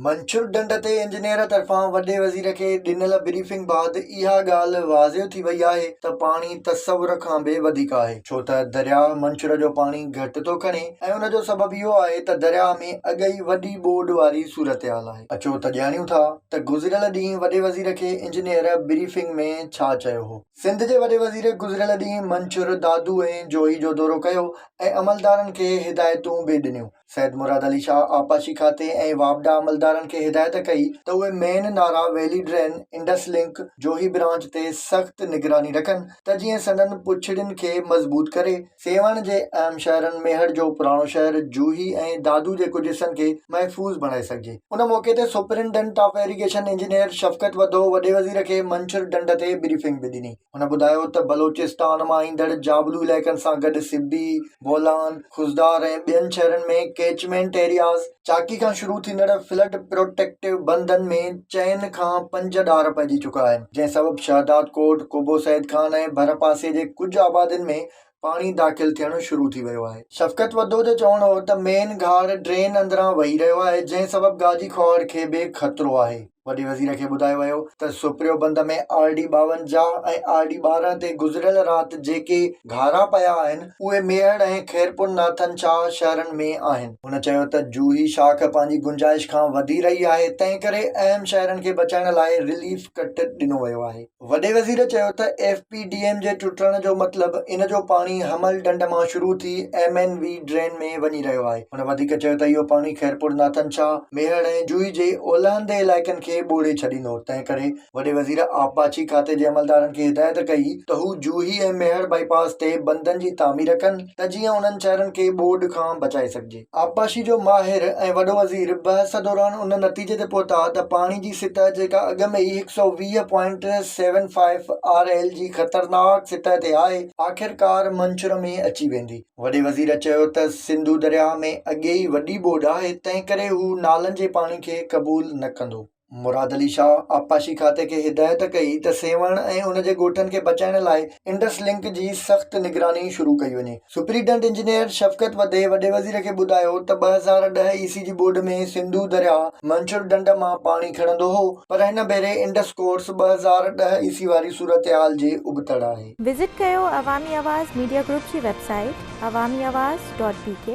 منڇر ڍنڍ تي انجنيئر طرفان وڏي وزير کي ڏنل بريفنگ بعد اها ڳالهه واضح ٿي وئي آهي ته پاڻي تصور کان به وڌيڪ آهي ڇو ته درياهه منڇر جو پاڻي گهٽ ٿو کڻي ۽ ان جو سبب اهو آهي ته درياهه ۾ اڳ ئي وڏي ٻوڏ واري صورتحال آهي اچو ته ڄاڻيون ٿا ته گذريل ڏينهن وڏي وزير کي انجنيئر بريفنگ ۾ ڇا چيو هو. سنڌ جي وڏي وزير گذريل ڏينهن منڇر، دادو ۽ جوهي جو دورو ڪيو ۽ عملدارن کي هدايتون به ڏنيون. سيد مراد علي شاهه آبپاشي کاتي ۽ واپڊا عملدارن کي هدايت ڪئي ته اهي main Nara, valley drain, Indus link, Johi branch تي سخت نگراني رکن ته جيئن سندن پڇڙين کي مضبوط ڪري سيوهڻ جي اهم شهرن ميهڙ جو پراڻو شهر، جوهي ۽ دادو جي ڪجهه حصن کي محفوظ بڻائي سگهجي. ان موقعي تي superintendent of irrigation engineer Shafqat Wadho وڏي وزير کي منڇر ڍنڍ تي بريفنگ به ڏني. هن ٻڌايو ته بلوچستان مان ايندڙ جابلو علائقن سان گڏ سبي، بولان، خضدار ۽ ٻين شهرن ۾ ڪيچمينٽ ايرياز، چاڪي کان شروع ٿيندڙ فلڊ پروٽيڪٽو بندن ۾ چئن کان پنج ڏار پئجي چڪا آهن، جنهن سبب شهدادڪوٽ، قبو سيد خان ۽ ڀرپاسي جي ڪجهه آبادين ۾ پاڻي داخل ٿيڻ شروع ٿي ويو آهي. شفقت وڌو جو چوڻ هو ته مين گهاڙ ڊرين اندران وهي رهيو آهي جنهن سبب گاجي کهاڙ کي به خطرو آهي. وڏي وزير کي ٻڌايو ويو ته سپريو بند ۾ آر ڊي ٻاونجاهه ۽ آر ڊي ٻارهن تي گذريل رات جيڪي گهارا پيا آهن اهي ميهڙ ۽ خيرپور ناٿن شاهه شهرن ۾ آهن. هن چيو ته جوهي شاخ پنهنجي گنجائش کان وڌي رهي آهي تنهن ڪري اهم شهرن کي بچائڻ لاء رليف ڪٽ ڏنو ويو آهي. وڏي وزير چيو ته ايف پي ڊي ايم جي ٽٽڻ جو مطلب ان جو پاڻي حمل ڍنڍ مان شروع ٿي ايم اين وي ڊرين ۾ وڃي رهيو آهي، هن وڌيڪ چيو ته اهو پاڻي خيرپور ناٿن شاهه، ميهڙ ۽ جوئي جي اولهندي علائقن کي ٻوڙي ڇڏيندو، تنهنڪري وڏي وزير آبپاشي کاتي جي عملدارن کي هدايت ڪئي ته هو جوهي ۽ ميهڙ بائي پاس تي بندن جي تعمير ڪن ته جيئن انهن شهرن کي ٻوڏ کان بچائي سگهجي. آبپاشي جو ماهر ۽ وڏو وزير بحث دوران ان نتيجي تي پهتا ته پاڻي جي سطح جيڪا اڳ ۾ ئي هڪ سؤ ويهه point seven five R L جي خطرناڪ سطح تي آهي، آخرڪار منڇر ۾ اچي ويندي. وڏي وزير چيو ته سنڌو درياهه ۾ اڳي ئي وڏي ٻوڏ آهي، تنهنڪري هو نالن جي پاڻي کي قبول نه ڪندو. مراد علي شاهه آبپاشي کاتي کي هدايت ڪئي ته سيوهڻ ۽ ان جي ڳوٺن کي بچائڻ لاء انڊس لنڪ جي سخت نگراني شروع ڪئي وڃي. سپريڊنٽ انجنيئر شفقت وڌي وڏي وزير کي ٻڌايو ته ٻه هزار ڏهه عيسي جي ٻوڏ ۾ سنڌو درياهه منڇر ڍنڍ مان پاڻي کڻندو هو پر هن ڀيري انڊس ڪورس ٻه هزار ڏهه عيسي واري صورتحال جي ابتڙ آهي. وزٽ ڪيو عوامي آواز ميڊيا گروپ جي website Awami Awaz dot بي ڪي.